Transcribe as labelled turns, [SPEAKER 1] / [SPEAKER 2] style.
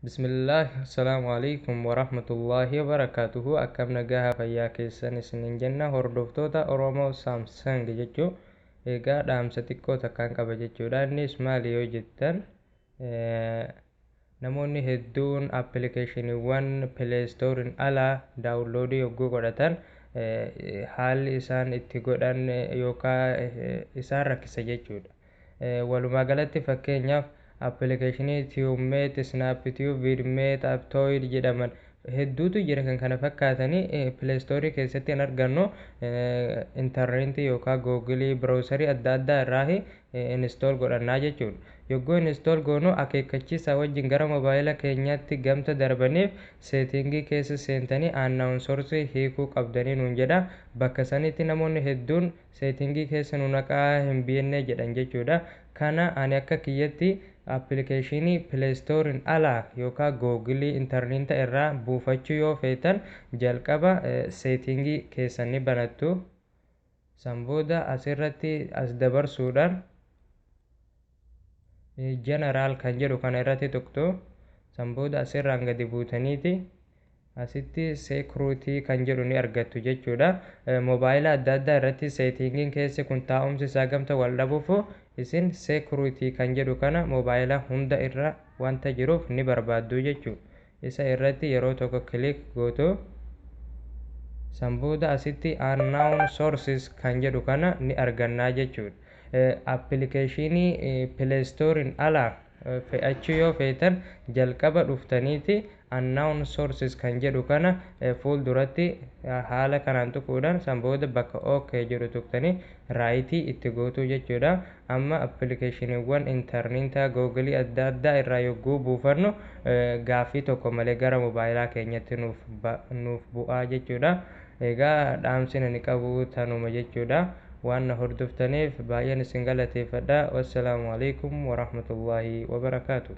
[SPEAKER 1] Bismillah Assalaamu Aleykum Warahmatullaahi Wabarakaatuhu Akkam nagaha fayyaa keessan isiniin jenna hordoftoota Oromoo Samsung jechuu egaa dhaamsa xiqqoo takkaan qaba jechuudha innis maali yoo jettan namoonni hedduun appilikeeshiniiwwan pileestooriin ala daawunloodii yogguu godhatan haalli isaan itti godhan yookaan isaan rakkisa jechuudha Walumaagalatti fakkeenyaaf appilikeeshinii TubeMate, SnapTube, VidMate, Aptoid jedhaman hedduutu jira kan kana fakkaatani play store keessatti hin argannu interneetii yookaa google browser adda addaa irraahi install godhannaa jechuudha. Yogguu install goonu akeekkachiisaa wajjin gara mobaayila keenyaatti gamta darbaniif setting keessa seentanii announcersii hiikuu qabdanii nuun jedha bakka sanitti namoonni hedduun Setting keessa nu naqaa hin beenne jedhan jechuudha. Kana ani akka kiyyatti application play store'n ala yookaa google interneeta irraa buufachuu yoo feetan jalqaba setting keessan ni banattu. San booda asirratti as dabarsuudhaan. General kan jedhu kana irratti tuqxu. San booda as irraan gadi buutaniiti asitti security kan jedhu ni argattu jechuudha. Mobaayila adda addaa irratti settingin keessi kun taa'umsi isaa gamta wal dhabuuf isin security kan jedhu kana mobaayila hunda irra wanta jiruuf ni barbaaddu jechuudha. Isa irratti yeroo tokko click gootu. San booda asitti unknown sources kan jedhu kana ni argannaa jechuudha. Appilikeeshiinii play store'n ala fe'achuu yoo feetan jalqaba dhuftaniiti unknown sources kan jedhu kana fuul duratti haala kanaan tuquudhaan san booda bakka ok jedhu tuqtanii right itti gootuu jechuudha. Amma appilikeeshiniiwwan intarniitaa Google adda addaa irraa yogguu buufannu gaaffii tokko malee gara mobaayilaa keenyatti nuuf nuuf bu'aa jechuudha. Egaa dhaamsin ani qabu tanuma jechuudha. Waan na hordoftaniif baay'een isin galateeffadha. Wassalaamu Aleykum Warahmatullaahi Wabarakaatu.